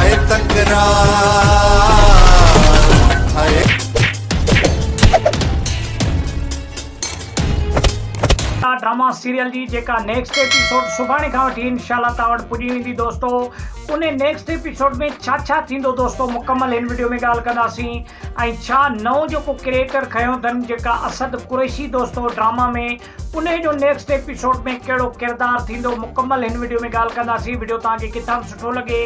هيء تڪرار هيء. ٽا ڊراما سيريل جي جيڪا نيڪسٽ ايپيسوڊ سڀاڻي کان وٺي انشاء الله توهان وٽ پڄي ويندي دوستو انهي نيڪسٽ ايپيسوڊ ۾ ڇا ڇا ٿيندو دوستو مڪمل هن وڊيو ۾ ڳالهه ڪنداسين ۽ ڇا نئون جيڪو ڪريئيٽر کنيو اٿن جيڪا اسد قريشي دوستو ڊراما ۾ انهي جو نيڪسٽ ايپيسوڊ ۾ ڪهڙو ڪردار ٿيندو مڪمل هن وڊيو ۾ ڳالهه ڪنداسين وڊيو توهان کي ڪٿان به سٺو لڳي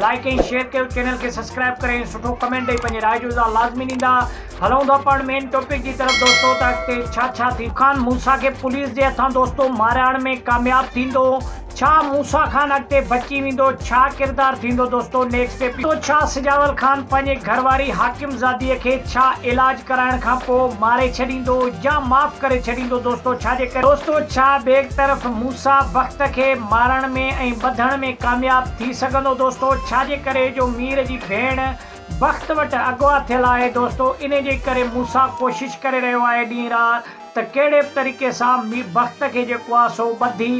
لائڪ ۽ شيئر ڪيو چينل کي سبسڪرائب ڪري سٺو ڪمينٽ ڏئي پنهنجي راء جو اظهار لازمي ڏيندا هلون ٿا پاڻ مين ٽاپڪ جي طرف دوستو ته اڳتي ڇا ڇا ٿيندو خان موسيٰ کي پوليس جي هٿان دوستو مارائڻ ۾ ڪامياب ٿيندو ڇا موسيٰ خان اڳتي بچي ويندو ڇا ڪردار ٿيندو دوستو نيڪسٽ ايپيسوڊ ڇا سجاول خان پنهنجي گهر واري حاڪم زادي کي ڇا علاج ڪرائڻ کان پوء ماري ڇڏيندو يا معاف ڪري ڇڏيندو دوستو ڇا جي ڪري دوستو ڇا بيگ طرف موسيٰ بخت کي مارڻ ۾ ۽ ٻڌڻ ۾ ڪامياب ٿي سگهندو دوستو ڇا جي ڪري جو مير جي ڀيڻ بخت وٽ اغوا ٿيل آهي دوستو انهي جي ڪري موسيٰ ڪوشش ڪري رهيو آهي ڏينهن رات ته ڪهڙي به طريقي سان مير بخت کي جيڪو آ سو ٻڌي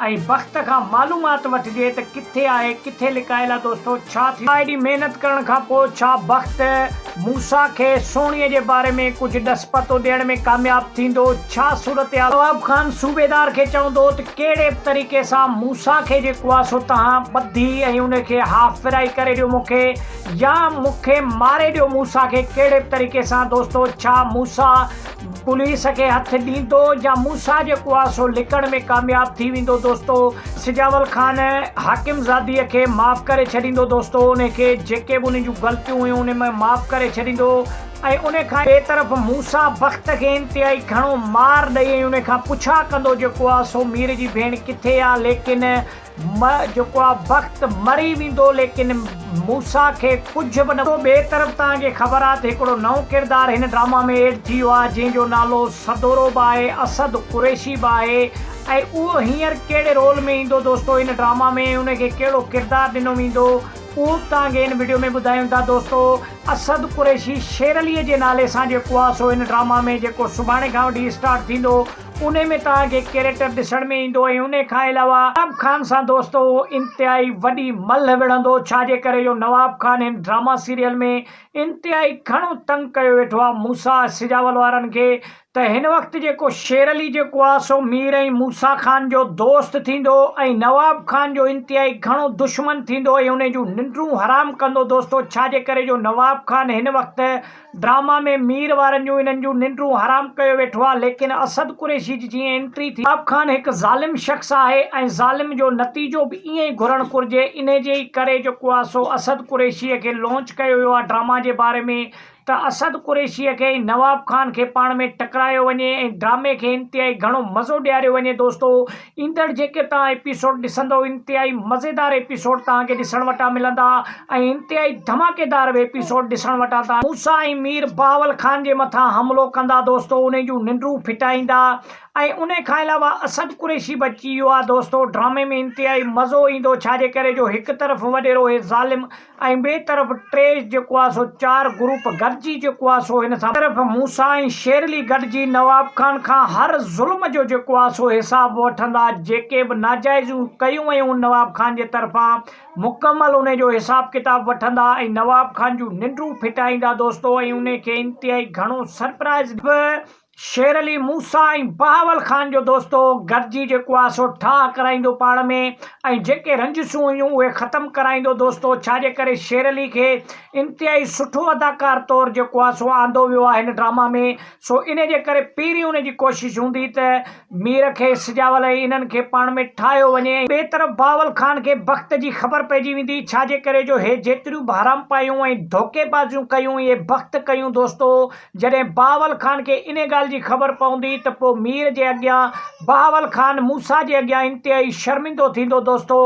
۽ بخت کان معلومات وٺجي ته ڪٿي آهي ڪٿي لڪايل آ دوستو ڇا ٿيو آ ايڏي محنت ڪرڻ کان پوء ڇا بخت موسيٰ کي سهڻيء جي باري ۾ ڪجهه ڏس پتو ڏيڻ ۾ ڪامياب ٿيندو ڇا صورتحال نواب خان صوبيدار کي چوندو ته ڪهڙي به طريقي سان موسيٰ کي جيڪو آ سو توهان ٻڌي ۽ ان کي ها فرائي ڪري ڏيو مون کي يا مون کي ماري ڏيو موسيٰ کي ڪهڙي به طريقي سان دوستو ڇا موسيٰ پوليس کي هٿ ڏيندو يا موسيٰ جي ڪواسو لڪڻ ۾ ڪامياب ٿي ويندو دوستو سجاول خان حاڪم زادي کي معاف ڪري ڇڏيندو دوستو ان کي جيڪي به ان جون غلطيون هيون ان ۾ معاف ڪري ڇڏيندو ۽ ان کان ٻي طرف موسيٰ بخت کي انتهائي گهڻو مار ڏئي ۽ ان کان پڇا ڪندو جو ڪواسو مير جي ڀيڻ ڪٿي آ ليڪن م جيڪو آ بخت مري ويندو ليڪن موسيٰ کي ڪجهه به نه ٿيندو ٻي طرف توهان کي خبر آ ته هڪڙو نئون ڪردار هن ڊراما ۾ ايڊ ٿي ويو آ جنهن جو نالو سدورو به آهي اسد قريشي به آهي ۽ اهو هينئر ڪهڙي رول ۾ ايندو دوستو هن ڊراما ۾ ۽ ان کي ڪهڙو ڪردار ڏنو ويندو اهو به توهان کي هن وڊيو ۾ ٻڌايون ٿا دوستو اسد قريشي شيرعلي جي نالي سان جيڪو آ سو هن ڊراما ۾ جيڪو سڀاڻي کان وٺي اسٽارٽ ٿيندو انهي ۾ توهان کي ڪيريڪٽر ڏسڻ ۾ ايندو ۽ انهي کان علاوه نواب خان سان دوستو انتهائي وڏي ملهه وڙهندو ڇا جي ڪري جو نواب خان هن ڊراما سيريل ۾ انتهائي گهڻو تنگ ڪيو ويٺو آ موسيٰ سجاول وارن کي ته هن وقت جيڪو شير علي جيڪو آ سو مير ۽ موسيٰ خان جو دوست ٿيندو ۽ نواب خان جو انتهائي گهڻو دشمن ٿيندو ۽ انهي جون ننڊون حرام ڪندو دوستو ڇا جي ڪري جو نواب خان هن وقت ڊراما ۾ مير وارن جون انهن جون ننڊون حرام ڪيو ويٺو آ ليڪن اسد قريشي جي جيئن انٽري ٿي عرب خان هڪ ظالم شخص آهي ۽ ظالم جو نتيجو به ائين ئي گهرڻ گهرجي انهي جي ئي ڪري جيڪو آ سو اسد قريشي کي لونچ ڪيو ويو آ ڊراما جي باري ۾ ته اسد قريشي کي ۽ نواب خان کي پاڻ ۾ ٽڪرايو وڃي ۽ ڊرامي کي انتهائي گهڻو مزو ڏياريو وڃي دوستو ايندڙ جيڪي توهان ايپيسوڊ ڏسندو انتهائي مزيدار ايپيسوڊ توهان کي ڏسڻ وٽان ملندا ۽ انتهائي ڌماڪيدار به ايپيسوڊ ڏسڻ وٽان توهان موسيٰ ۽ مير بهاول خان جي مٿان حملو ڪندا دوستو انهي جون ننڊون ڦٽائيندا ۽ انهي کان علاوه اسد قريشي به اچي ويو آهي دوستو ڊرامي ۾ انتهائي مزو ايندو ڇا جي ڪري جو هڪ طرف وڏيرو هي ظالم ۽ ٻئي طرف ٽريش جيڪو آهي سو چار گروپ گڏجي جيڪو آهي سو هن سان هڪ طرف موسيٰ ۽ شيرلي گڏجي نواب خان کان هر ظلم جو جيڪو آهي سو حساب وٺندا جيڪي به ناجائزيون ڪيون ويون نواب خان جي طرفان مڪمل انهي جو حساب ڪتاب وٺندا ۽ نواب خان جون ننڊون ڦٽائيندا دوستو ۽ انهي کي انتهائي گهڻو سرپرائز به شير علي موسيٰ ۽ بهاول خان جو دوستو گڏجي جيڪو آ سو ٺاهه ڪرائيندو پاڻ ۾ ۽ جيڪي رنجسون هيون اهي ختم ڪرائيندو دوستو ڇا جي ڪري شير علي کي انتهائي سٺو اداڪار طور جيڪو آ سو آندو ويو آ هن ڊراما ۾ سو انهي جي ڪري پهرين ان جي ڪوشش هوندي ته مير کي سجاول ۽ انهن کي پاڻ ۾ ٺاهيو وڃي ۽ ٻي طرف بهاول خان کي بخت جي خبر پئجي ويندي ڇا جي ڪري جو هي جيتريون به حرامپايون ۽ ڌوڪي بازيون ڪيون اهي بخت ڪيون دوستو. جڏهن بهاول خان کي انهي ڳالهه جي خبر پوندي ته پوء مير جي اڳيان بهاول خان موسيٰ جي اڳيان انتهائي شرمندو ٿيندو دوستو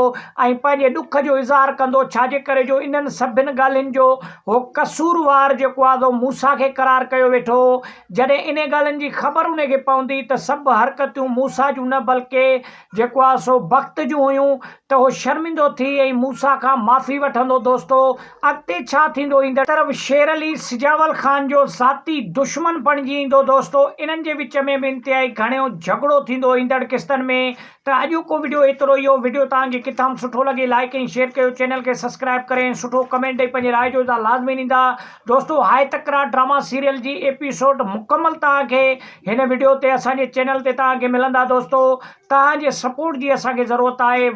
۽ پنهنجي ڏک جو اظهار ڪندو ڇاجي ڪري جو انهن سڀن ڳالهين جو هو قصوروار جيڪو آزو موسيٰ کي قرار ڪيو ويٺو جڏهن انهي ڳالهين جي خبر انهي کي پوندي ته سڀ حرڪتيون موسيٰ جون نه بلڪه جيڪو آ سو بخت جون هيون ته هو شرمندو ٿي ۽ موسيٰ کان معافي وٺندو دوستو اڳتي ڇا ٿيندو ايندڙ طرف شير علي سجاول خان جو ذاتي دشمن بڻجي ايندو دوستو انهن جي وچ ۾ به انتهائي گهڻيو جهڳڙو ٿيندو ايندڙ قسطن ۾ ته اڄوڪو وڊيو ايترو ئي هو وڊيو توهان کي ڪٿام سٺو لڳي لائيڪ ۽ شيئر ڪيو چينل کي سبسڪرائيب ڪري ۽ سٺو ڪمينٽ ڏئي پنهنجي راء جو اظهار لازمي ڏيندا دوستو هاء تڪرار ڊراما سيريل جي ايپيسوڊ مڪمل توهان کي هن وڊيو تي اسان جي چينل تي توهان کي ملندا دوستو توهان جي سپورٽ جي اسان کي ضرورت آهي.